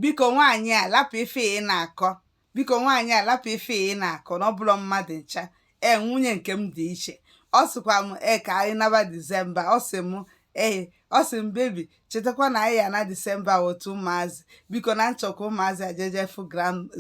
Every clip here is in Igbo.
biko nwaanyị a lapụ ife ị na-akọ biko nwaanyị a lapụ ife ị na-akọ na ọ bụrọ mmadụ ncha ee nwunye nke m dị iche ọ sịkwa m ee ka anyị naba disemba ọ sị m ee ọ sị m baby chetakwa na anyị ya-ana disemba otu ụmụazị biko na m chọ ka ụmụazị a jee je fụ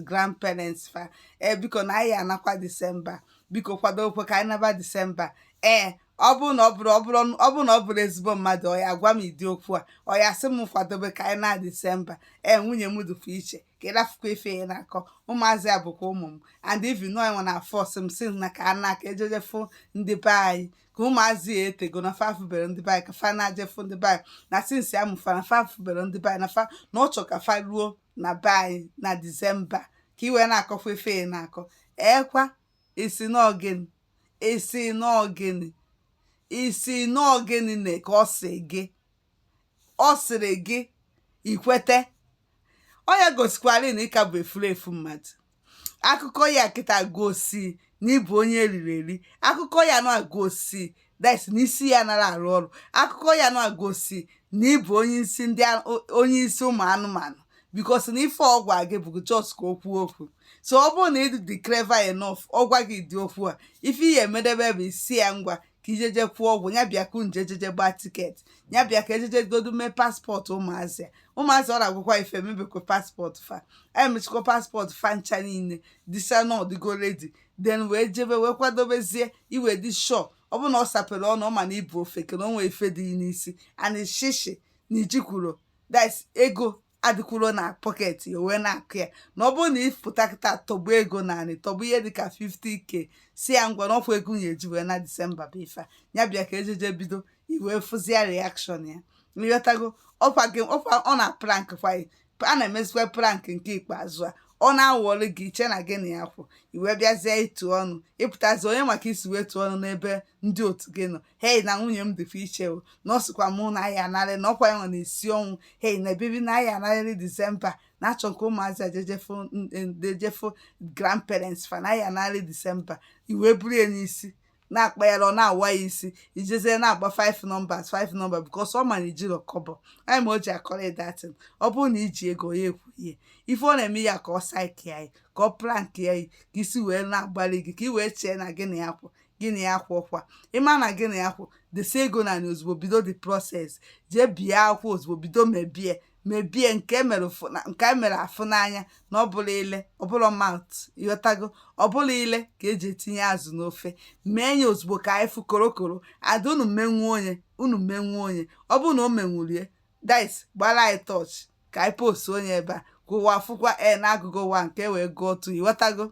grand parents fa ee biko na anyị ya-anakwa disemba biko kwadokwe ka anyị naba disemba ee ọ bụrụ na ọ bụrụ ọ bụrụ ọ bụrụ na ọ bụrụ ezigbo mmadụ ọ ya-agwa m ụdị okwu a ọ ya-asị m kwadobe ka anyị naa disemba ee nwunye m dịkwa iche ka ị rafụkwa ife ya na-akọ ụmụazị a bụkwa ụmụ m and even nọ nwa na-force m sị na ka a naa ka e jee je fụ ndị be anyị ka ụmụazị a o tego na fa afụbero ndị be anyị ka fa naa je fụ ndị be anyị na since a mụ fa na fa afụbero ndị be anyị na fa na ọ chọ ka fa ruo na be anyị na disemba ka i wee na-akọkwa ife ya na-akọ ee kwa ị sị na ọ gịnị ị sị na ọ gịnị ị sị na ọ gịnị na ka ọ sị gị ọ sịrị gị i kwete ọ ya gosikwara na ị ka bụ efulefu mmadụ akụkọ ya kịta gosi na ị bụ onye eriri eri akụkọ ya na-egosi that na isi ya anara arụ ọrụ akụkọ ya na-egosi na ị bụ onye isi ndị onye isi ụmụ anụmanụ because na ife ọ gwa gị bụ just ka o kwuo okwu so ọ bụrụ na ị dị dị clever enough ọ gwa gị ụdị okwu a ife ị ya-emedebe bụ ị sị ya ngwa ka i jee je kwụọ ụgwọ ya bịa ka unu jee je gbaa tiketi ya bịa ka e jee jegodu mee paspọtụ ụmụazị a ụmụazị ọ na-agwụkwa ife mebekwa paspọtụ fa emechikwa paspọtụ fa ncha niile dị sure na ọ dịgo ready then wee jebe wee kwadobezie i wee dị sure ọ bụrụ na ọ sapere ọnụ ọ ma na ị bụ ofeke na o nwee ife dị n'isi and shishi na i jikwuro that ego adịkwuro na pọket ya wee na-akọ ya na ọ bụrụ na ị pụta kịta tọgbọ ego naanị tọgbọ ihe dịka 50k sị ya ngwa n'ọfọ ego a ya-eji wee naa disemba bụ ife a ya bịa ka e jee je bido i wee fụzia reaction ya ị ghọtago ọkwa gị ọkwa ọ na-aprank kwa gị a na-emezikwa prank nke ikpeazụ a ọ na-awọrị gị i chee na gị na ya kwụ i wee bịazie ịtụ ọnụ ị pụtazi onye ma ka i si wee tụọ ọnụ n'ebe ndị otu gị nọ hei na nwunye m dịkwa iche o na ọ sịkwa mụ na anyị anarị na ọkwa ya nọ na-esi ọnwụ hei na baby na anyị anarịrị disemba na achọ m ka ụmụazị a jee je fụ ndejefụ grandparents fa na anyị anarịrị disemba i wee buru ya n'isi na-akpa ya ọ na-awa ya isi i jezie na-agba 5 numbers 5 number because ọ ma na i jiro kọbọ anyị ma o ji akọrọ that thing ọ bụrụ na i ji ego ya ekwu ihe ife ọ na-eme ya ka ọ psych anyị ka ọ prank ya yi ka isi wee na-agbalị gị ka ị wee chee na gị na ya kwụ gị na ya kwụ ọkwa ịma na gị na ya kwụ desi ego na anyị ozugbo bido the process jee bie akwụkwọ ozugbo bido mebie mebie nke e mere ụfụ- na- nke e mere afụ n'anya na ọ bụrọ ile ọ bụrọ mouth ịghọtago ọ bụrọ ile ka eji etinye azụ n'ofe mee ya ozugbo ka anyị fụ korokoro ada unu menwuo onye unu menwuo onye ọ bụrụ na o menwurie this gbara anyị torch ka anyị post onye ebe a ka ụwa fụkwa e na agụgụ ụwa nke wee gụọ otu ịghọtago